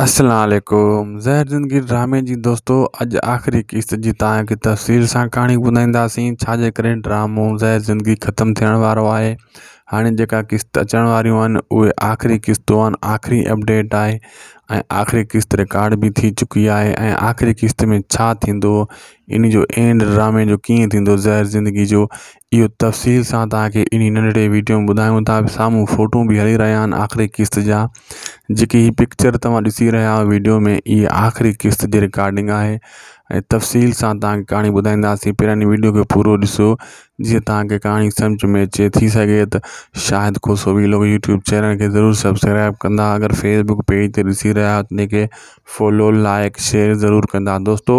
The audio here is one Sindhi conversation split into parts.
السلام عليڪم زهر زندگي ڊرامي جي دوستو اڄ آخري قسط جي تان کي تفصيل سان ڪهاڻي ٻڌائينداسين ڇا جي ڪري ڊرامو زهر زندگي ختم ٿيڻ وارو آهي هاڻي جيڪا قسط اچڻ واريون آهن اهي آخري قسطون آهن آخري اپڊيٽ آهي ۽ آخري قسط رڪارڊ به ٿي چڪي آهي ۽ آخري قسط ۾ ڇا ٿيندو ان جو اينڊ ڊرامي جو ڪيئن ٿيندو زهر زندگي جو اهو تفصيل سان توهان کي انهي ننڍڙي ويڊيو ۾ ٻڌايون ٿا سامهون فوٽو به هلي رهيا آهن آخري قسط جا جيڪي هي پڪچر توهان ڏسي رهيا آهيو ويڊيو ۾ اهي آخري قسط جي رڪارڊنگ آهي ۽ تفصيل سان توهان کي ڪهاڻي ٻڌائينداسين پهريان هن ويڊيو کي پورو ڏسو جيئن توهان کي ڪهاڻي سمجھ ۾ اچي ٿي سگهي ته شاهد کوسو ويلو يوٽيوب چينل کي ضرور سبسڪرائب ڪندا اگر فيسبڪ پيج تي ڏسي رهيا آهيو تنهن کي فالو لائڪ شيئر ضرور ڪندا دوستو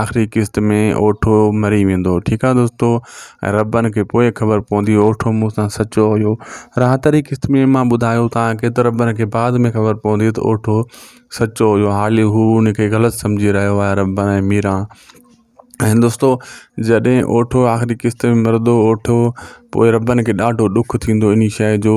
آخري قسط ۾ اوٺو مري ويندو ٺيڪ آ دوستو ۽ ربن کي پوء خبر پوندي اوٺو مون سان سچو هيو راحت واري قسط ۾ مان ٻڌايو تان کي ته ربن کي بعد ۾ خبر پوندي ته اوٺو سچو هيو حالي هو ان کي غلط سمجهي رهيو آهي ربن ۽ ميرا ۽ دوستو جڏهن اوٺو آخري قسط ۾ مرندو اوٺو پوء ربن کي ڏاڍو ڏک ٿيندو اني شاء جو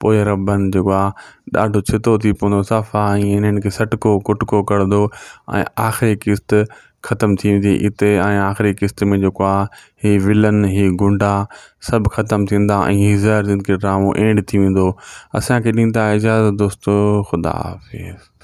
پوء ربن جيڪو آ ڏاڍو ڇتو ٿي پوندو صفا ائين انهن کي سٽڪو ڪٽڪو ڪرندو ۽ آخري قسط ختم ٿي ويندي اتي ۽ آخري قسط ۾ جيڪو آ هي ولن هي گنڊا سڀ ختم ٿيندا ۽ هي زهر زندگي ڊرامو اينڊ ٿي ويندو اسان کي ڏيندا اجازت دوستو خدا حافظ.